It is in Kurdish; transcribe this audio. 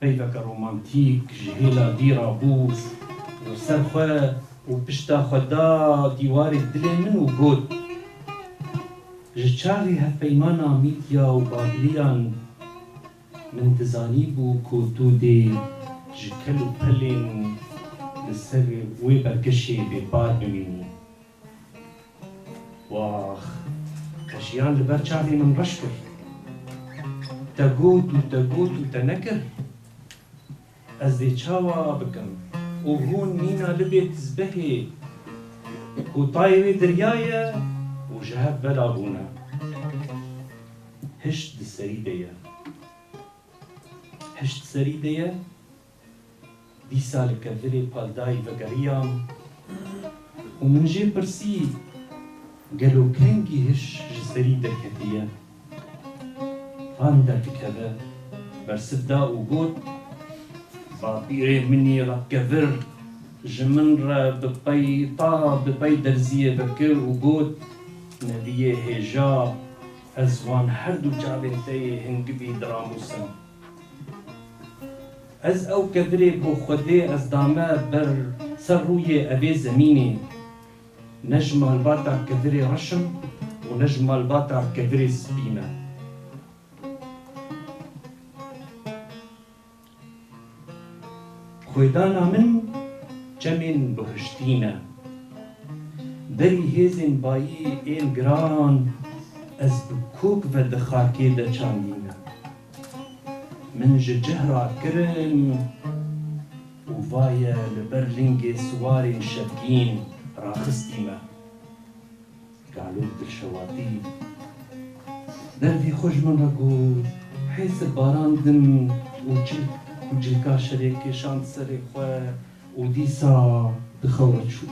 Peyveke romantîk ji hêla dî ra bûz û ser xwe û pişta xwe da dîwarê dilê min û got, Ji çaxê hevpeymana Mîdya û Babîliyan min dizanîbû ku tu dê ji kel û pelên li ser wê berkişê bêpar bimînî. Wax! Te jiyan li ber çavê min reş kir. Te got û te got û te nekir. Ez dê çawa bikim? Û hûn mîna libê tizbehê ku tayê wê dirya ye û ji hev ve da bûne. Hişt di serî de ye. Hişt serî de ye. Dîsa li kevirê Paldayî vegeriyam û min jê pirsî gelo kengî hiş ji serî derketiye? Van derdikeve bersiv da û got, Bapîrê min î re kevir ji min re bi pey ta bi pey derziyê vekir û got, Nediyê hêja ez wan herdu çavên te yê hingivî diramûsim. Ez ew kevirê ku Xwedê ez dame ber ser rûyê evê zemînê, ne ji malbata kevirê reş im û ne ji malbata kevirê spî me. Xwedana min çemên bihiştî ne. Berî hêzên bayî ên giran ez bi kok ve di xakê de çandîme. Min ji cih ra kirin û vaye li ber lingê siwarên şevgîn raxistî me. Galûk dilşewatî dervî xwe ji min re got, hêsir barandim û çilk ku cilka şerê kêşand serê xwe û dîsa di xew re çûm.